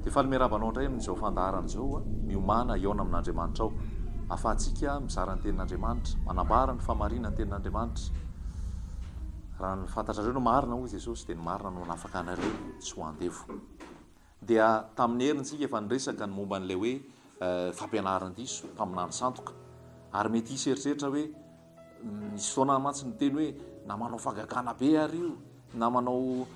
Dia faly miarahaba anao indray amin'izao fandaharana izao a. Miomana hihaona amin'Andriamanitra ao. Ahafahantsika mizara ny tenin'Andriamanitra, manambara ny fahamarinan'ny tenin'Andriamanitra. Raha ny fantatrareo no marina hoy Jesosy dia ny marina no hanafaka anareo tsy ho andevo. Dia tamin'i Hery ntsika efa niresaka ny momba an'ilay hoe fampianaran-diso, mpaminany sandoka. Ary mety hisy eritreritra hoe, nisy fotoana aho mantsy niteny hoe, na manao fagagana be ary io, na manao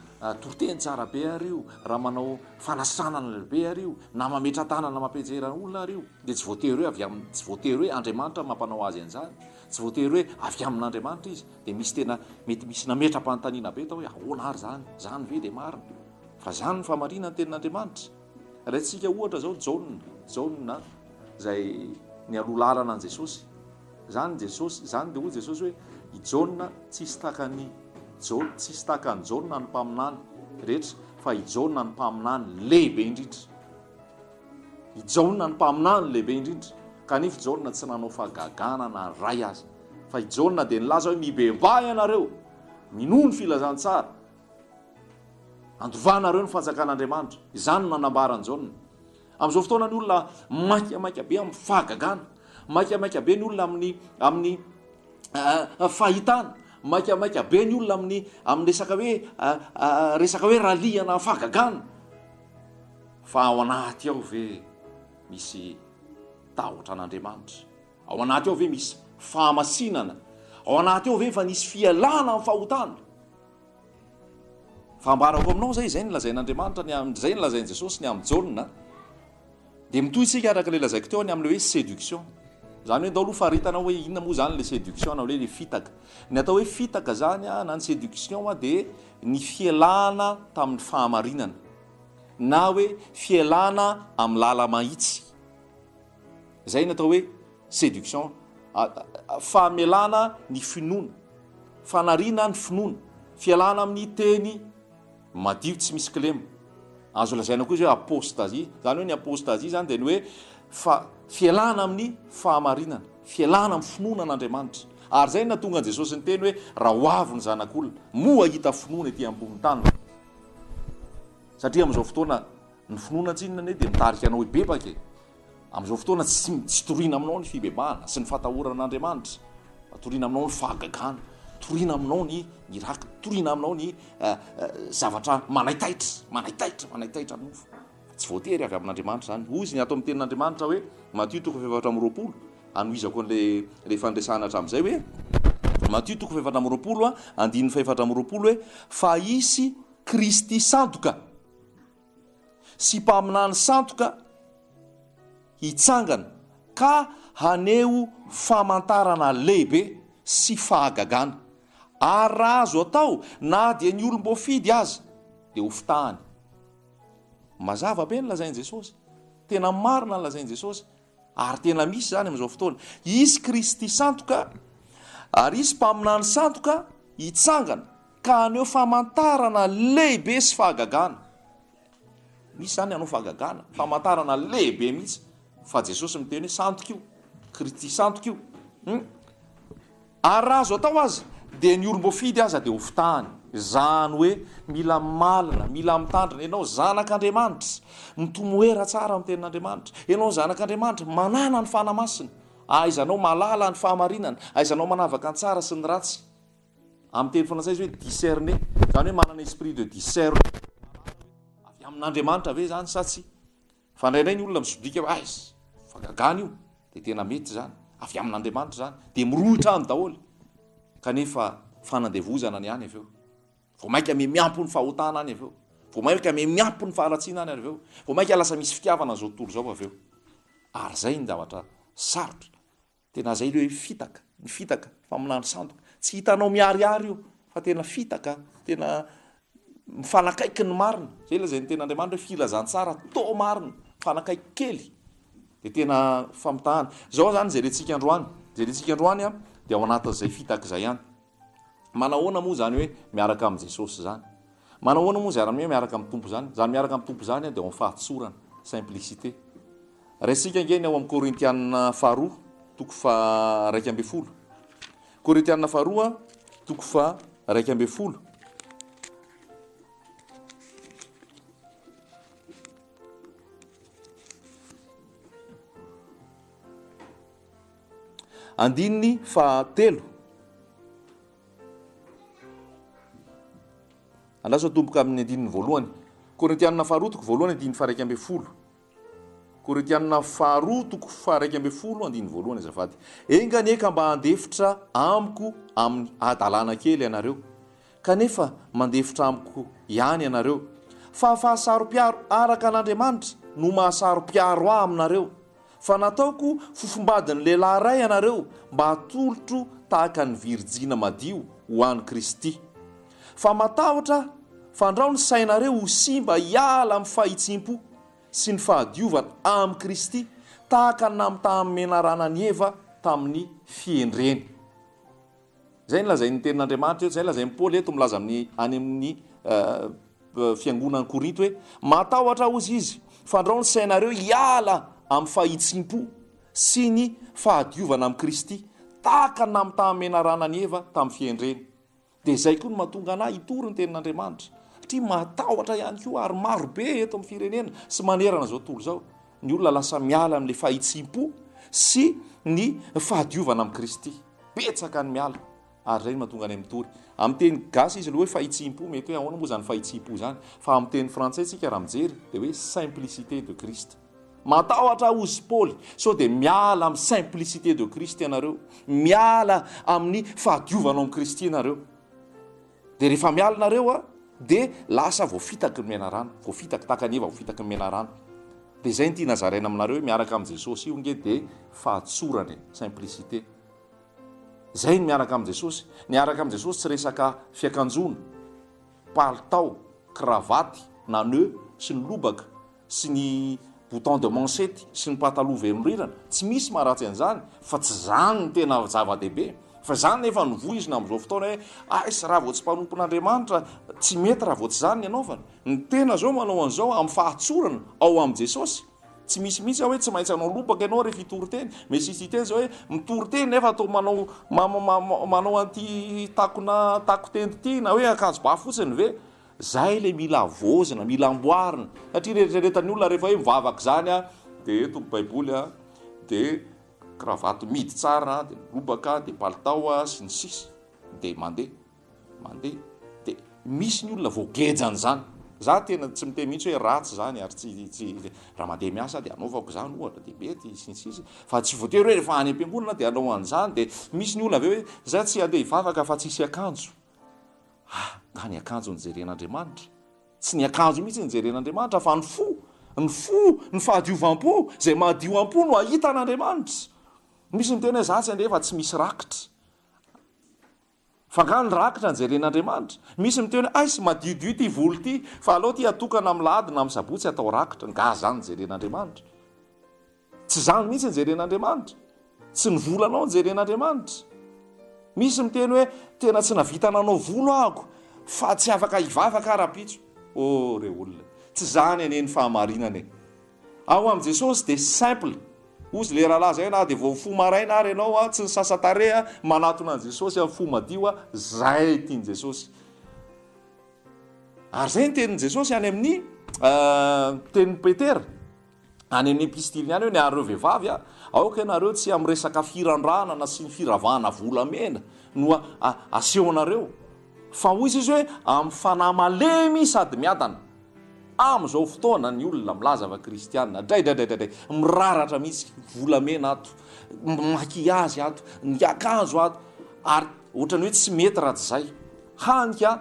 toriteny tsara be ary io, raha manao fanasitranana be ary io, na mametra-tanana mampianjera olona ary io, dia tsy voatery hoe avy amin'ny, tsy voatery hoe Andriamanitra no mampanao azy an'izany, tsy voatery hoe avy amin'Andriamanitra izy. Dia misy tena, mety misy nametra-panontaniana be tao hoe, ahoana ary izany? Izany ve dia marina? Fa izany no fahamariana ny tenin'Andriamanitra. Alaintsika ohatra izao Jaona, Jaona izay nialoha lalana an'i Jesosy. Izany Jesosy, izany dia hoy Jesosy hoe i Jaona tsisy takan'i Jaona, tsisy takan'i Jaona ny mpaminany rehetra, fa i Jaona ny mpaminany lehibe indrindra. I Jaona ny mpaminany lehibe indrindra. Kanefa i Jaona tsy nanao fagagana na ray aza. Fa i Jaona dia nilaza hoe mibebaha ianareo, minoa ny filazantsara, Andovanareo ny fanjakan'Andriamanitra. Izany no nanambaran'i Jaona. Amin'izao fotoana ny olona maikamaika be amin'ny fahagagana, maikamaika be ny olona amin'ny amin'ny fahitana, maikamaika be ny olona amin'ny amin'ny resaka hoe resaka hoe ralihana fahagagana. Fa ao anaty ao ve misy tahotra an'Andriamanitra? Ao anaty ao ve misy fahamasinana? Ao anaty ao ve efa nisy fialana amin'ny fahotana? Fa ambarako aminao izay, izay no lazain'Andriamanitra ny am- izay no lazain'i Jesosy ny amin'i Jaona. Dia mitohy isika araka ilay lazaiko teo ny amin'ilay hoe séduction. Izany hoe ndao aloha faritana hoe inona moa izany ilay séduction na hoe ilay fitaka. Ny atao hoe fitaka izany a, na ny séduction a, dia ny fialana tamin'ny fahamarinana na hoe fialana amin'ny lala-mahitsy. Izay no atao hoe séduction, famelana ny finoana, fanariana ny finoana, fialana amin'ny teny madio tsy misy kilema. Azo lazaina koa izy hoe apostasie. Izany hoe ny apostasie izany dia ny hoe fa fialana amin'ny fahamarinana, fialana amin'ny finoana an'Andriamanitra. Ary izay natonga an'i Jesosy niteny hoe raha ho avy ny zanak'olona, moa hahita finoana ety ambonin'ny tany? Satria amin'izao fotoana Ny finoana tsinona anie dia mitarika anao hibebaka e! Amin'izao fotoana tsy tsy toriana aminao ny fibebahana sy ny fahatahorana an'Andriamanitra fa toriana aminao ny fahagagana, toriana aminao ny miracle, toriana aminao ny zavatra manaitaitra, manaitaitra, manaitaitra anao fa tsy voatery avy amin'Andriamanitra izany. Hoy izy ny ato amin'ny tenin'Andriamanitra hoe, Matio toko fahefatra amby roapolo, hanohizako an'ilay ilay fandresana hatramin'izay hoe, Matio toko fahefatra amby roapolo andininy fahefatra amby roapolo hoe, fa hisy Kristy sandoka. sy mpaminany sandoka hitsangana ka haneho famantarana lehibe sy fahagagana, ary raha azo atao na dia ny olom-boafidy aza dia ho fitahany. Mazava be ny lazain'i Jesosy, tena marina ny lazain'i Jesosy. Ary tena misy izany amin'izao fotoana. Hisy Kristy sandoka ary hisy mpaminany sandoka hitsangana ka haneho famantarana lehibe sy fahagagana. Misy izany hanao fahagagana, famantarana lehibe mihitsy fa Jesosy miteny hoe sandoka io, Kristy sandoka io. Hmm. Ary raha azo atao aza dia ny olom-boafidy aza dia ho fitahany. Izany hoe mila malina, mila mitandrina ianao zanak'Andriamanitra, mitomoera tsara amin'ny tenin'Andriamanitra, ianao zanak'Andriamanitra, manana ny Fanahy Masina, ahaizanao mahalala ny fahamarinana, ahaizanao manavaka ny tsara sy ny ratsy. Amin'ny teny frantsay izy hoe discerner, izany hoe manana esprit de discerne, mahalala hoe avy amin'Andriamanitra ve izany sa tsia. Fa indraindray ny olona misobika hoe aiza fa gagana io dia tena mety izany, avy amin'Andriamanitra izany dia mirohotra any daholo kanefa fanandevozana ny any avy eo, vao mainka mihamiampy ny fahotana any avy eo, vao mainka mihamiampy ny faharatsiana any avy eo, vao mainka lasa misy fitiavana an'izao tontolo izao avy eo. Ary izay ny zavatra sarotra Tena zay le hoe fitaka, ny fitaka, famonoana sandoka. Tsy hitanao miharihary io fa tena fitaka, tena mifanakaiky ny marina. Zay le zay ny tenin'Andriamanitra hoe filazantsara toa marina, mifanakaiky kely de tena famitahana. Zao zany jerentsika androany, jerentsika androany dia ao anatin'izay fitaka izay ihany. Manahoana moa izany hoe miaraka amin'i Jesosy izany? Manahoana moa izany hoe miaraka amin'ny Tompo izany? Izany miaraka amin'ny Tompo izany dia ao amin'ny fahatsorana, simplicité. Raisintsika ange ny ao amin'ny Korintianina faharoa, toko faha-iraika ambin'ny folo. Korintianina faharoa, toko faha-iraika ambin'ny folo. Andininy faha telo. Andraso tomboka amin'ny andininy voalohany. Korintianina faharoa toko voalohany andininy faha iraika ambin'ny folo. Korintianina faharoa toko faha iraika ambin'ny folo andininy voalohany azafady. Enga anie ka mba handefitra amiko amin'ny hadalana kely ianareo. Kanefa mandefitra amiko ihany ianareo, fa fahasaropiaro araka an'Andriamanitra no mahasaropiaro ahy aminareo, fa nataoko fofombadin'ny lehilahy iray ianareo mba hatolotro tahaka ny virjina madio ho an'i Kristy. Fa matahotra aho, fandrao ny sainareo ho simba hiala amin'ny fahitsim-po sy ny fahadiovana amin'i Kristy, tahaka ny namitaham-menarana an'i Eva tamin'ny fihendreny. Izay nolazain'ny Tenin'Andriamanitra eto, izay lazain'i Paoly eto milaza amin'ny any amin'ny fiangonan'i Korinto hoe, Matahotra aho, hozy izy, fandrao ny sainareo hiala amin'ny fahitsim-po sy ny fahadiovana amin'i Kristy, tahaka ny namitahamenarana an'i Eva tamin'ny fihendreny. Dia izay koa no mahatonga anà hitory ny Tenin'Andriamanitra, satria matahotra ihany koa, ary marobe eto amin'ny firenena sy manerana izao tontolo izao. Ny olona lasa miala amin'ilay fahitsiham-po sy ny fahadiovana amin'i Kristy. Betsaka ny miala ary izay no mahatonga anay mitory. Amin'ny teny gasy izy aloha hoe fahitsiham-po, mety hoe ahoana moa izany fahitsiham-po izany? Fa amin'ny teny frantsay isika raha mijery dia hoe simplicité de Christ. Matahotra aho hozy Paoly, sao dia miala amin'ny simplicité de Christ ianareo, miala amin'ny fahadiovana ao amin'i Kristy ianareo. Dia rehefa miala nareo a, dia lasa voafitaky ny menarano, voafitaky tahaka an'i Eva voafitaky ny menarano. Dia izay no tiana zaraina aminareo hoe miaraka amin'i Jesosy io nge dia fahatsorana e, simplicité. Izay ny miaraka amin'i Jesosy. Niaraka amin'i Jesosy tsy resaka fiakanjoana, palitao, kravaty, na nœud sy ny lobaka, sy ny bouton de manchette sy ny pataloha velondrirana, tsy misy maharatsy an'izany fa tsy izany no tena zava-dehibe, fa izany nefa no voizina amin'izao fotoana hoe aiss raha vao tsy mpanompon'Andriamanitra tsy mety raha vao tsy izany ny anaovana, ny tena izao manao an'izao amin'ny fahatsorana ao amin'i Jesosy, tsy misy mihitsy hoe tsy maintsy hanao lobaka ianao rehefa hitory teny, misy site izao hoe mitory teny nefa toa manao manao an'ity takona takoteny ity na hoe akanjo ba fotsiny ve? Zay ilay mila havaozina, mila amboarina, satria ny eritreretan'ny olona rehefa hoe mivavaka izany a, dia eto ny baiboly a, dia cravate midy tsara, dia lobaka, dia palitao a, sy ny sisa, dia mandeha, mandeha, dia misy ny olona voageja an'izany. Za tena tsy miteny mihitsy hoe ratsy izany ary tsy, tsy, raha mandeha miasa dia anaovako izany ohatra dia mety, sy ny sisa, fa tsy voatery hoe rehefa any am-piangonana dia hanao an'izany, dia misy ny olona avy eo hoe za tsy handeha hivavaka fa tsy hisy akanjo. Ah, nga ny akanjo no jeren'Andriamanitra? Tsy ny akanjo mihitsy no jeren'Andriamanitra fa ny fo, ny fo, ny fahadiovam-po, izay madio am-po no ahita an'Andriamanitra. Misy miteny hoe za tsy andeha fa tsy misy rakitra. Fa nga ny rakitra no jeren'Andriamanitra? Misy miteny hoe aiss madiodio ity volo ity fa alao ity atokana amin'ny lahady na amin'ny sabotsy atao rakitra. Nga zany no jeren'Andriamanitra? Tsy izany mihitsy no jeren'Andriamanitra. Tsy ny volanao no jeren'Andriamanitra. Misy miteny hoe, tena tsy nahavita nanao volo ahoko fa tsy afaka hivavaka aho rahampitso. Oh re olona, tsy izany anie ny fahamarinana e! Ao amin'i Jesosy dia simple. Hozy le rahalahy izay, na dia vao mifoha maraina ary ianao, tsy nisasa-tarehy, manatona an'i Jesosy amin'ny fo madio, izay tian'i Jesosy. Ary izay ny tenin'i Jesosy any amin'ny tenin'i Petera. Any amin'ny epistiliny any hoe ny anareo vehivavy a, aoka ianareo tsy amin'ny resaka firandranana sy ny firavahana volamena no asehonareo, fa hoy Jesoa hoe amin'ny fanahy malemy sady miadana. Amin'izao fotoana ny olona milaza fa kristiana, draidraidraidray, miraratra mihitsy, volamena ato, maquillage ato, ny akanjo ato, ary ohatran'ny hoe tsy mety raha tsy izay. Hany ka.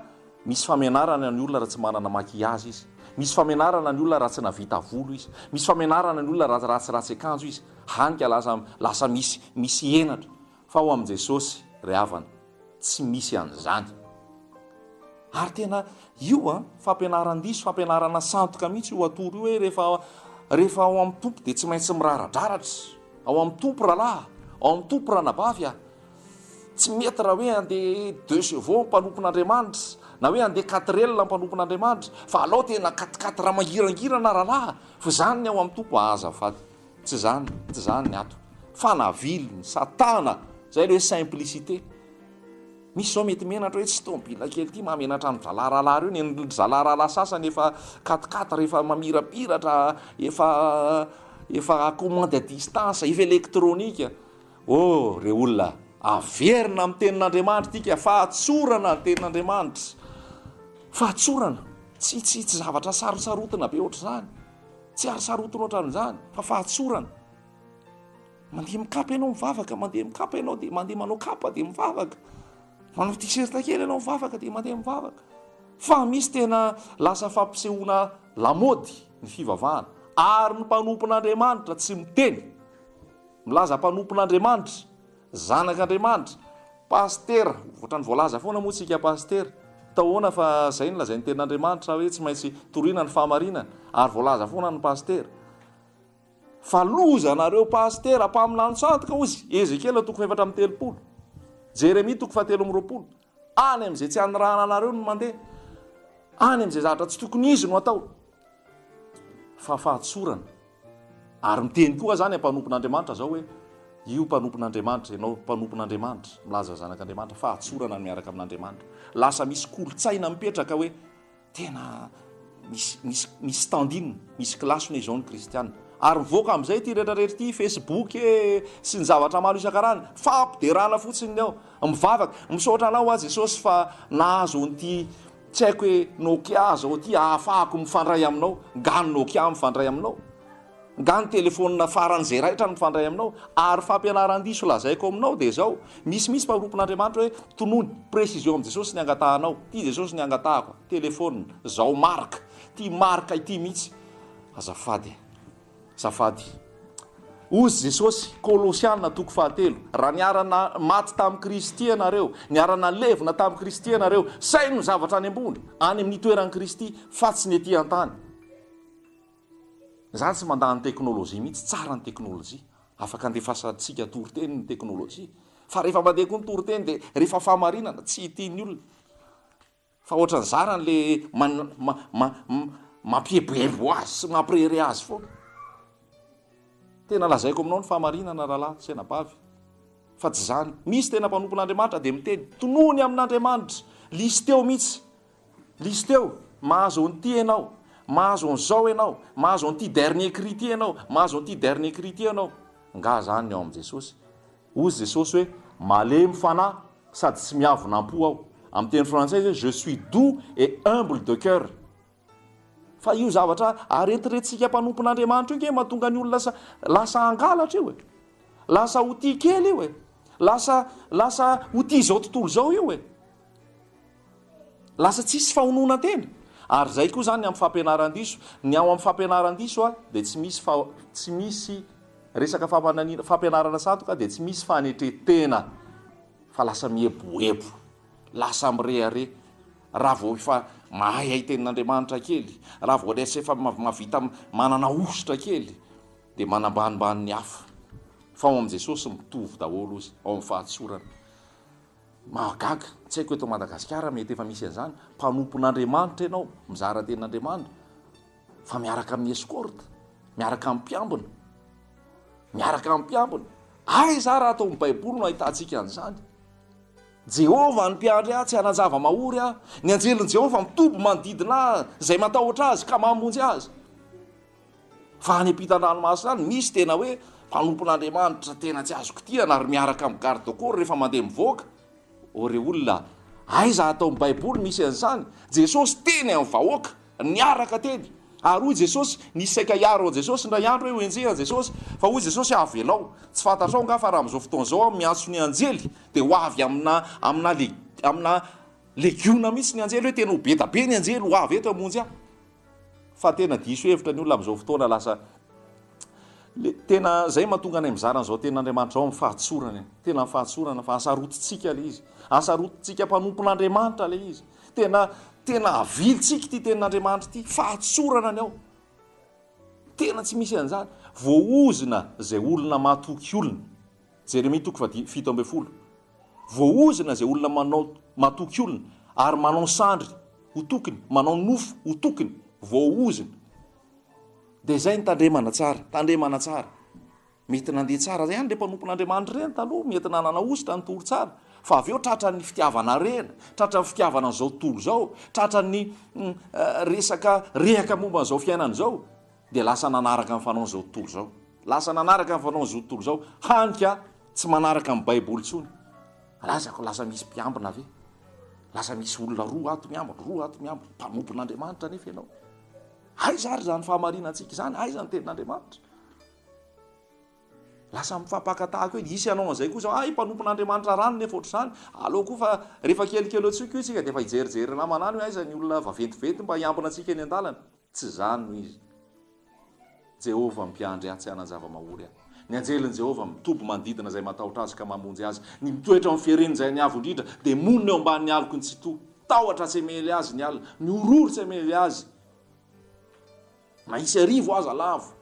Misy famenarana ny olona raha tsy manana maquillage izy. Misy famenarana ny olona raha tsy navita volo izy. Misy famenarana ny olona raha tsy ratsy akanjo izy. Hany ka lasa lasa misy misy henatra. Fa ao amin'i Jesosy ry havana, tsy misy an'izany. Ary tena io an, fampianaran-diso, fampianarana sandoka mihitsy io atoro io hoe rehefa rehefa ao amin'ny Tompo dia tsy maintsy miraradraratra. Ao amin'ny Tompo rahalahy, ao amin'ny Tompo ranabavy aho. Tsy mety raha hoe handeha deux chevaux mpanompon'Andriamanitra, na hoe handeha quatrelle mpanompon'Andriamanitra, fa alao tena quatre quatre raha mangirangirana rahalahy, fa izany ny ao amin'ny Tompo aa azafady, tsy izany, tsy izany ny ato, fanaviliny, satana, izay ilay hoe simplicité, misy izao mety menatra hoe tsy tomobila kely ity mahamenatra ny zalahy rahalahy ireo, ny ry zalahy rahalahy sasany efa quatre quatre efa mamirapiratra, efa efa commande à distance, efa électronique, Oh, ry olona, averina amin'ny Tenin'Andriamanitra isika. Fahatsorana ny Tenin'Andriamanitra. Fahatsorana. Tsy, tsy, tsy zavatra sarosarotina be ohatr'izany. Tsy ary sarotiny ohatran'izany, fa fahatsorana. Mandeha mikapa ianao mivavaka, mandeha mikapa ianao dia mandeha manao kapa dia mivavaka. Manao t-shirt kely ianao mivavaka dia mandeha mivavaka. Fa misy tena lasa fampisehoana lamaody ny fivavahana. Ary ny mpanompon'Andriamanitra tsy miteny. Milaza mpanompon'Andriamanitra, zanak'Andriamanitra, pasitera, ohatrany voalaza foana moa tsika pasitera, taoana fa zay no lazain'ny tenin'Andriamanitra hoe tsy maintsy toriana ny fahamarinana, ary voalaza foana ny pasitera fa loza anareo pasitera mpaminany tsantoka ozy, Ezekiela toko fahefatra amby telopolo, Jeremia toko fahatelo amby roapolo. Any amin'izay tsy anirahana anareo no mandeha. Any amin'izay zavatra tsy tokony izy no atao. Fa fahatsorana. Ary miteny koa aza ny mpanompon'Andriamanitra izao hoe, Io mpanompon'Andriamanitra, ianao mpanompon'Andriamanitra, milaza ny Zanak'Andriamanitra, fahatsorana ny miaraka amin'Andriamanitra. Lasa misy kolontsaina mipetraka hoe. Tena misy misy misy standin, misy kilasona izao ny kristiana. Ary mivoaka amin'izay ity rehetra rehetra ity, Facebook e, sy ny zavatra maro isan-karazany. Fampiderana fotsiny ny ao. Mivavaka, misaotra anao aho Jesosy fa nahazo an'ity tsy haiko hoe Nokia zao ity ahafahako mifandray aminao. Ngano Nokia mifandray aminao? Nga ny telefonina farany izay raitra no mifandray aminao? Ary fampianaran-diso lazaiko aminao dia izao, misy mihitsy mpanompon'Andriamanitra hoe tonony, précision amin'i Jesosy ny angatahanao, ity Jesosy ny angatahako, telefonina, zao marika, ity marika ity mihitsy, azafady e, azafady. Hozy Jesosy, Kolosiana toko fahatelo, raha niarana maty tamin'i Kristy ianareo, niarana levona tamin'i Kristy ianareo, saino ny zavatra any ambony, any amin'ny toeran'i Kristy, fa tsy ny ety an-tany. Izaho tsy mandà ny teknolojia mihitsy, tsara ny teknolojia, afaka andefasantsika toriteny ny teknolojia, fa rehefa mandeha koa ny toriteny dia rehefa fahamarinana, tsy hitia ny olona, fa ohatran'ny zarany le mampieboebo azy sy mampirehareha azy foana. Tena lazaiko aminao ny fahamarinana rahalahy sy anabavy, fa tsy izany, misy tena mpanompon'Andriamanitra dia miteny, tonohony amin'Andriamanitra, lisiteo mihitsy. Listy eo, mahazo an'ity ianao, mahazo an'izao ianao, mahazo an'ity dernier cri ity ianao, mahazo an'ity dernier cri ity ianao. Nga zany ny ao amin'i Jesosy? Hozy Jesosy hoe, malemy fanahy sady tsy miavona am-po aho. Amin'ny teny frantsay izy hoe, je suis doux et humble de cœur. Fa io zavatra aretiretintsika mpanompon'Andriamanitra io nge mahatonga ny olona lasa, lasa hangalatra io e. Lasa ho tia kely io e. Lasa, lasa ho tia izao tontolo izao io e. Lasa tsisy fahononan-tena. Ary izay koa izany ny amin'ny fampianaran-diso. Ny ao amin'ny fampianaran-diso dia tsy misy fa tsy misy resaka famananiana, fampianarana sandoka dia tsy misy fanetren-tena fa lasa mieboebo, lasa mirehareha. Raha vao efa mahay hay tenin'Andriamanitra kely, raha vao lasa efa mahavita manana hosotra kely dia manambanimbany ny hafa. Fa ao amin'i Jesosy mitovy daholo izy ao amin'ny fahatsorana. Mahagaga, tsy haiko eto Madagasikara mety efa misy an'izany, mpanompon'Andriamanitra ianao, mizara tenin'Andriamanitra fa miaraka amin'ny escorte, miaraka amin'ny mpiambina, miaraka amin'ny mpiambina, aiza ary ato amin'ny baiboly no ahitantsika an'izany? Jehovah ny mpiandry ahy, tsy hanan-java-mahory aho, ny anjelin'i Jehovah mitoby manodidina ahy, izay matahotra azy ka mamonjy azy. Fa any ampitan-dranomasina any misy tena hoe mpanompon'Andriamanitra tena tsy azo kitihana ary miaraka amin'ny garde corps rehefa mandeha mivoaka. Ô re olona a! Aiza ato amin'ny baiboly misy an'izany? Jesosy teny amin'ny vahoaka, niaraka teny. Ary hoy Jesosy, nisy saika hiaro an'i Jesosy indray andro hoe ho enjehy an'i Jesosy. Fa hoy Jesosy, avelao. Tsy fantatrao angaha fa raha amin'izao fotoana izao aho miantso ny anjely dia ho avy amina, amina, amina legiona mihitsy ny anjely hoe tena ho be dia be ny anjely ho avy eto hamonjy ahy. Fa tena diso hevitra ny olona amin'izao fotoana lasa le tena zay mahatonga anay mizara an'izao tenin'Andriamanitra ao amin'ny fahatsorana e. Tena ny fahatsorana fa asarotintsika le izy. Asarotintsika mpanompon'Andriamanitra le izy. Tena tena avilintsika ity tenin'Andriamanitra ity, fahatsorana ny ao. Tena tsy misy an'izany. Voaozona izay olona matoky olona. Jeremia toko fahadimy, fito ambin'ny folo. Voaozona izay olona manao matoky olona, ary manao sandry ho tokiny, manao nofo ho tokiny, voaozona. Dia izay ny tandremana tsara, tandremana tsara. Mety nandeha tsara ihany ireny mpanompon'Andriamanitra ireny taloha, mety nanana hosotra ny tory tsara, fa avy eo tratra ny fitiavana harena, tratra ny fitiavana an'izao tontolo izao, tratra ny resaka rehaka momba an'izao fiainana izao. Dia lasa nanaraka ny fanaon'izao tontolo izao. Lasa nanaraka ny fanaon'izao tontolo izao, hany ka tsy manaraka ny Baiboly intsony. Razako, lasa misy mpiambina ve? Lasa misy olona roa ato miambina, roa ato miambina. Mpanompon'Andriamanitra anefa ianao. Aiza ary izany fahamarinantsika izany? Aiza ny tenin'Andriamanitra? lasa mifampakatahako hoe hisy hanao an'izay kosa ay mpanompon'andriamanitra rano nefa ohatr'izany aleo koa fa rehefa kelikely eo tsika io tsika dia efa hijerijery namana any hoe aiza ny olona vaventiventy mba hiambina antsika eny an-dalana Tsy izany no izy. Jehovah mpiandry atsy hanan-java-mahory ahy. Ny anjelin'i Jehovah mitoby manodidina izay matahotra azy ka mamonjy azy. Ny mitoetra eo amin'ny fiharian'Izay Niavo Indrindra dia monina eo ambanin'ny aloky ny Tsitoha. Tahotra tsy hamely azy ny alina, mihorohoro tsy hamely azy na hisy arivo aza lavo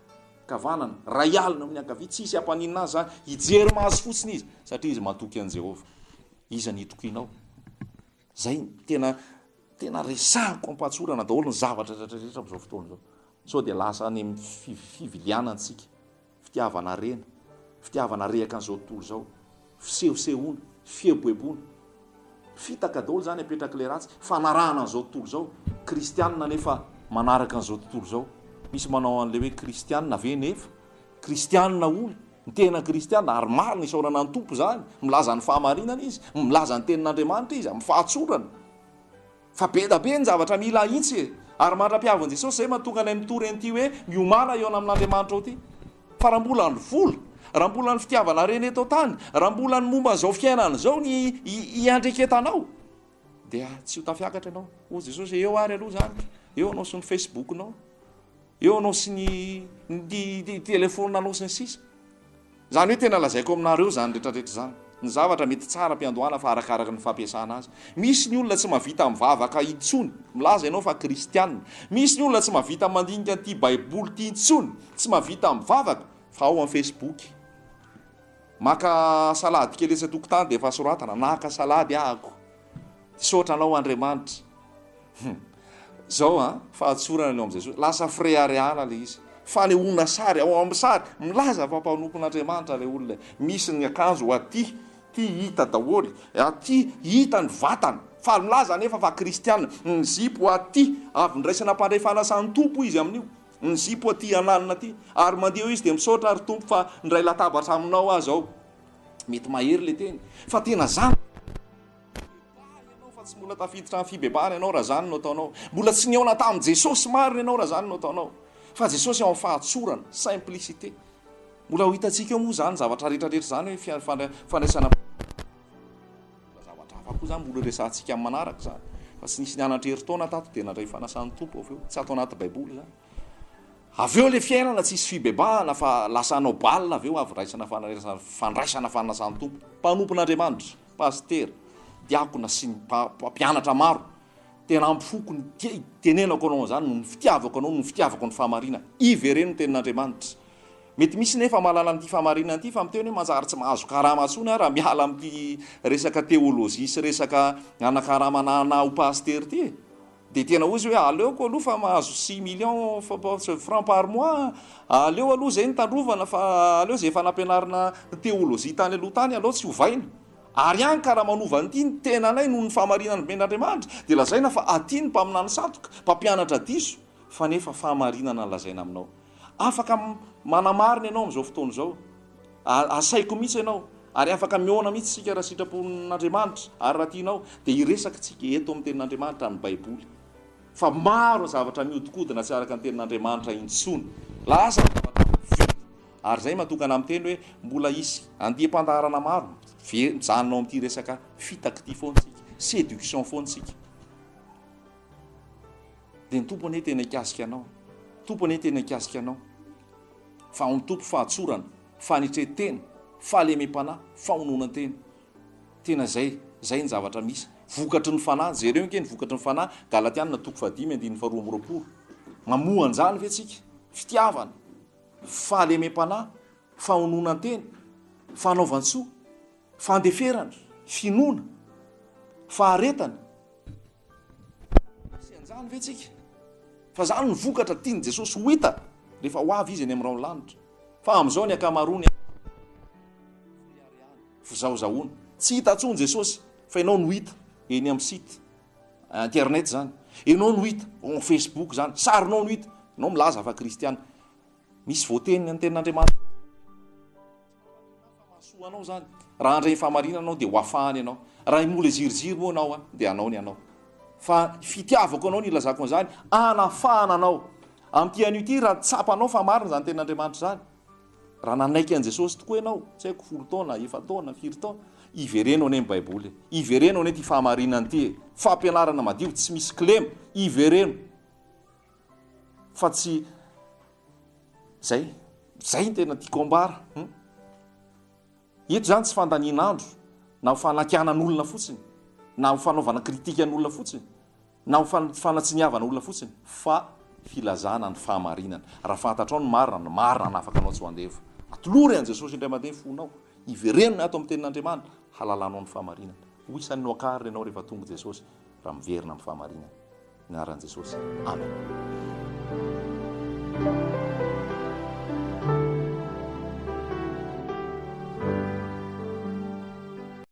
kavanana, iray alina amin'ny ankavia, tsy hisy hampaninona azy izany. Hijery maso fotsiny izy, satria izy matoky an'i Jehovah. Iza no hitokianao? Zay no tena tena resahiko ampatsorana daholo ny zavatra retraretra amzao fotoana zao sao dia lasa any am fiviliana antsika fitiavana harena fitiavana rehaka anzao tontolo zao fisehosehoana fieboeboana fitaka daholo zany apetraky le ratsy fanarahana anzao tontolo zao kristianina nefa manaraka anzao tontolo zao misy manao anle hoe kristianina ve nefa kristianina hono Ny tena kristiana, ary maro no isaorana ny Tompo izany, milaza ny fahamarinana izy, milaza ny tenin'Andriamanitra izy, amin'ny fahatsorana. Fa be da be ny zavatra mila ahitsy e! Ary mandra-pihavin'i Jesosy izay mahatonga anay mitory an'ity hoe miomana hihaona amin'Andriamanitra ao ity. Fa raha mbola ny vola, raha mbola ny fitiavana harena eto an-tany, raha mbola ny momba an'izao fiainana izao no iandreketanao, dia tsy ho tafiakatra ianao. Hoy Jesosy hoe eo ary aloha izany, eo ianao sy ny Facebook-nao. Eo anao sy ny ny telephone anao sy ny sisa Zany hoe tena lazaiko aminareo zany rehetra rehetra zany. Ny zavatra mety tsara am-piandohana fa arakaraky ny fampiasana azy. Misy ny olona tsy mahavita mivavaka intsony, milaza ianao fa kristiana. Misy ny olona tsy mahavita mandinika an'ity baiboly ity intsony, tsy mahavita mivavaka fa ao am facebook. Maka salady kely etsy an-tokotany dia efa soratana, naka salady aho. Misaotra anao Andriamanitra. Hum. Zao an, fahatsorana ny ao amin'i Jesosy. Lasa fireharehana le izy. Fanehoana sary, ao amin'ny sary, milaza fa mpanompon'Andriamanitra le olona e. Misy ny akanjo ho aty, ty hita daholo, aty hita ny vatana, fa milaza anefa fa kristiana. Ny zipo ho aty, avy niraisana mpandray fanasan'ny Tompo izy amin'io. Ny zipo aty ananona aty. Ary mandeha eo izy dia misaotra ry Tompo fa nindray latabatra aminao aho zao. Mety mahery le teny fa tena zany Bebaha ianao fa tsy mbola tafiditra am fibebahana ianao raha zany no ataonao. Mbola tsy nihaona tam Jesosy marina ianao raha zany no ataonao. Fa Jesosy ao am fahatsorana, simplicité. Mbola ho hitantsika eo moa zany zavatra rehetra rehetra zany hoe fia fandra fandraisana mbola zavatra hafa koa zany mbola horesahantsika am manaraka zany. Fa tsy nisy nianatra herintaona tato dia nandray fanasan Tompo avy eo. Tsy ato anaty baiboly zany. Avy eo ilay fiainana tsisy fibebahana fa lasa hanao bal avy eo avy raisana fandraisana fanasan tompo mpanompon Andriamanitra, pasitera, diakona sy ny mpampianatra maro tena ampy foko ny tia itenenako anao an'izany noho ny fitiavako anao noho ny fitiavako ny fahamarinana, ivereno ny tenin Andriamanitra. Mety misy nefa mahalala an'ity fahamarinana ity fa miteny hoe manjary tsy mahazo karama intsony aho raha miala amin'ity resaka teolojia sy resaka hanakaramana anah ho pasitera ity e! Dia tena hoy izy hoe aleoko aloha fa mahazo six millions francs par mois an! Aleo aloha izay no tandrovana fa aleo izay efa nampianarina theologie tany aloha tany aleo tsy ovaina! Ary an ka raha manova an'ity ny tenanay noho ny fahamarinana nomen'Andriamanitra dia lazaina fa aty ny mpaminany sandoka, mpampianatra diso, fa nefa fahamarinana lazaina aminao. Afaka manamarina ianao amin'izao fotoana izao. Asaiko mihitsy ianao, ary afaka mihaona mihitsy isika raha sitrapon'Andriamanitra ary raha tianao dia hiresaka isika eto amin'ny Tenin'Andriamanitra, ny Baiboly. Fa maro zavatra mihodinkodina tsy araka ny Tenin'Andriamanitra intsony. Lasa ny zavatra maventy. Ary izay matoa ka namiteny hoe mbola hisy andiam-pandaharana maro, ve mijanona ao amin'ity resaka fitaky ity foana isika, séduction foana isika. Dia ny Tompo anie tena hikasika anao. Tompo anie tena hikasika anao. Fa ao ny Tompo fahatsorana, fanetren-tena, fahalemem-panahy, fahononan-tena. Tena zay, zay ny zavatra misy. Vokatry ny fanahy, jereo ange ny vokatry ny fanahy, Galatiana toko fahadimy andininy faharoa amby roapolo. Mamoa an'izany ve tsika? Fitiavana, fahalemem-panahy, fahononan-tena, fanaovan-tsoa, fandeferana, finoana, faharetana. Tsy anjany ve tsika fa zany ny vokatra tiany Jesosy ho hita rehefa ho avy izy eny amrao ny lanitra fa amzao ny akamaroany any fizahozahoana tsy hita tsony Jesosy fa enao no hita eny am site internet zany enao no hita en facebook zany sarinao no hita enao milaza fa kristiana misy voateny ny tenin'Andriamanitra Mahasoa anao izany. Raha handray ny fahamarinana ianao dia ho afahany ianao. Raha himola ziriziry moa ianao dia hanao ny anao. Fa fitiavako anao no ilazako an'izany, hanafahana anao. Amin'ity anio ity, raha tsapanao fa marina izany tenin'Andriamanitra izany, raha nanaiky an'i Jesosy tokoa ianao, tsy haiko folo taona, efa-taona, firy taona, ivereno anie ny Baiboly e. Ivereno anie ity fahamarinana ity e. Fampianarana madio, tsy misy kilema. Ivereno. fa tsy zay zay ny tena tiako ambara eto hmm? zany tsy fandanian'andro na ho fanakianan'olona fotsiny na ho fanaovana kritika an'olona fotsiny na ho fanatsiniavana olona fotsiny fa filazana ny fahamarinana raha fantatrao ny marina ny marina na afaka anao tsy ho andevo atolory an'i jesosy indray mandeha ny fonao iverenina ato amin'ny tenin'andriamanina halalanao ny fahamarinana ho isan'ny noakarina ianao rehefa tonga jesosy raha miverina amin'ny fahamarinana Ny anaran'i Jesosy. Amen.